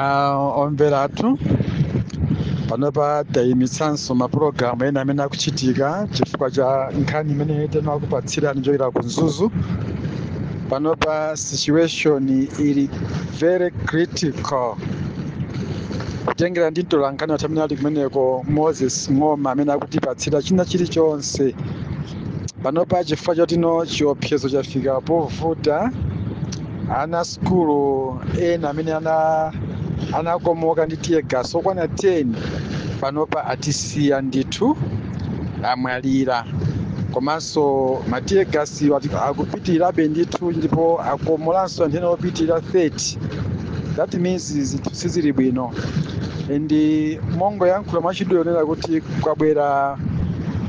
Ah, omvera athu panopa tayimitsanso mapulogalamu ena amene akuchitika chifukwa cha nkhani imene tinakupatsirani kuchokera ku mzuzu panopa situation ili very critical kutengera ndi mtolankhani wathu amene ali kumeneko moses ng'oma amene akutipatsira china chilichonse panopa chifukwa chotino chiopsezo chafika povuta ana sukulu ena amene anakomoka ndi tear gas okwana 10 panopa atisiya ndithu amwalira komanso ma tear gas akupitirabe ndithu ndipo akomolanso anthu ena opitirira 30 that means zinthu sizili bwino and mongoyankhula mwachidule kunena kuti kwabwera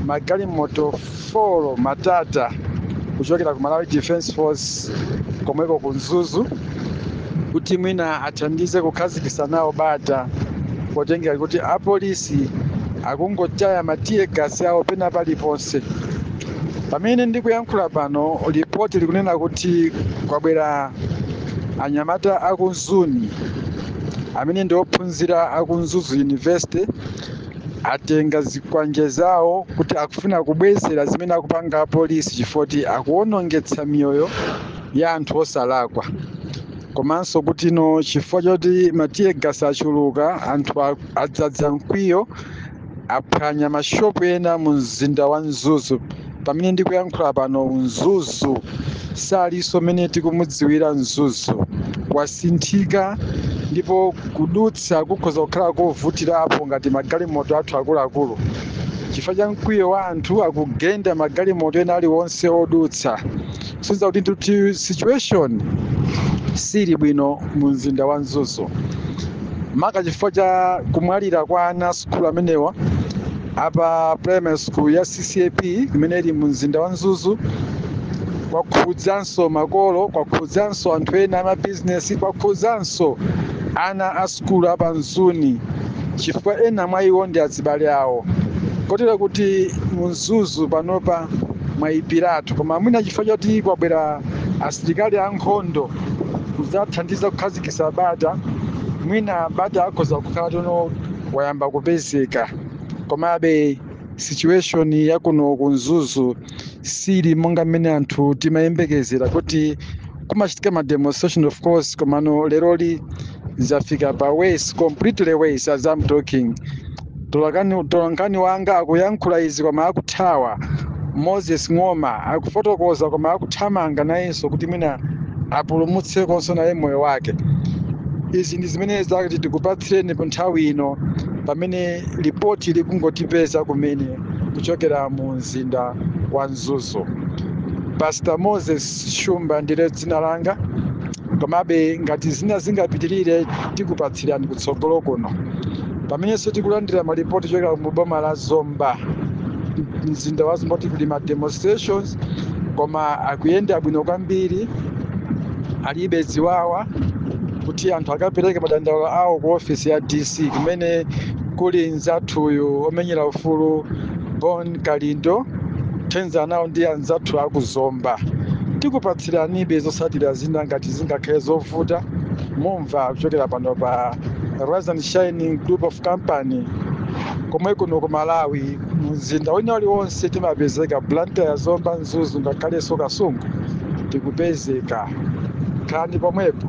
magalimoto 4 matata kuchokera ku malawi defense force komweko ku mzuzu kuti mwina athandize kukhazikisa nawo bata potengera kuti apolisi akungotaya ma tear gas awo pena paliponse pamene ndikuyankhula pano lipoti likunena kuti kwabwera Anyamata aku Mzuni amene ndi ophunzira aku Mzuzu University atenga zikwanje zawo kuti akufuna kubwezera zimene akupanga apolisi chifoti akuwonongetsa miyoyo ya anthu osalakwa komanso kutino chifukwa choti ma tear gas achuluka anthu a- adzadza mkwiyo aphwanya mashopu ena mu mzinda wa mzuzu pamene ndikuyankhula pano mzuzu salinso mmene tikumudziwira mzuzu wasinthika ndipo kudutsa kukhoza kukhala kovutirapo ngati magalimoto athu akuluakulu chifukwa cha mkwiyo wa anthu akugenda magalimoto ena aliwonse odutsa kusonyeza kuti ndithu situation sili bwino mu mzinda wa mzuzu maka chifukwa cha kumwalira kwa ana sukulu amenewa apa primary school ya ccap imene ili mu mzinda wa mzuzu kwakhudzanso makolo kwakhudzanso anthu ena amabizinesi kwakhudzanso ana a sukulu apa mzuni chifukwa ena mwa iwo ndi azibale awo kotero kuti mu mzuzu panopa mwayipiratu koma mwina chifukwa choti kwabwera asilikali ankhondo kudzathandiza kukhazikitsa bata mwina bata akhoza kukhala tono wayamba kupezeka komabe situation ya kuno ku mzuzu sili monga mmene anthu timayembekezera kuti kumachitika ma demonstration of course komano leroli zafika pa worse completely worse as I'm talking Mtolakani- Mtolankhani wanga akuyankhula izi koma akuthawa. Moses Ng'oma akufotokoza koma akuthamanga nayenso kuti mwina apulumutsekonso naye moyo wake. Izi ndi zimene zakuti tikupatsireni pa nthawi ino pamene lipoti likungotipeza kumene kuchokera mu mzinda wa Mzuzu. Pastor Moses Shumba ndiye dzina langa komabe ngati zina zingapitirire tikupatsirani kutsogolo kuno pamenenso tikulandira malipoti kuchokera mu boma la zomba mzinda wa zomba kuti kuli ma demonstrations koma akuyenda bwino kwambiri alibe ziwawa kuti anthu akapereke madandaulo awo ku ofisi ya dc kumene kuli mzathuyu omenyera ufulu bon Kalindo, mthenga nawo ndi anzathu aku Zomba. Tikupatsiranibe zotsatira zina ngati zingakhale zovuta. Mumva kuchokera pano pa Rise and Shine Group of Company komwe kuno ku Malawi mumzinda wina uliwonse timapezeka Blantyre, Zomba, Mzuzu ngakhalenso Kasungu tikupezeka. Khalani pomwepo.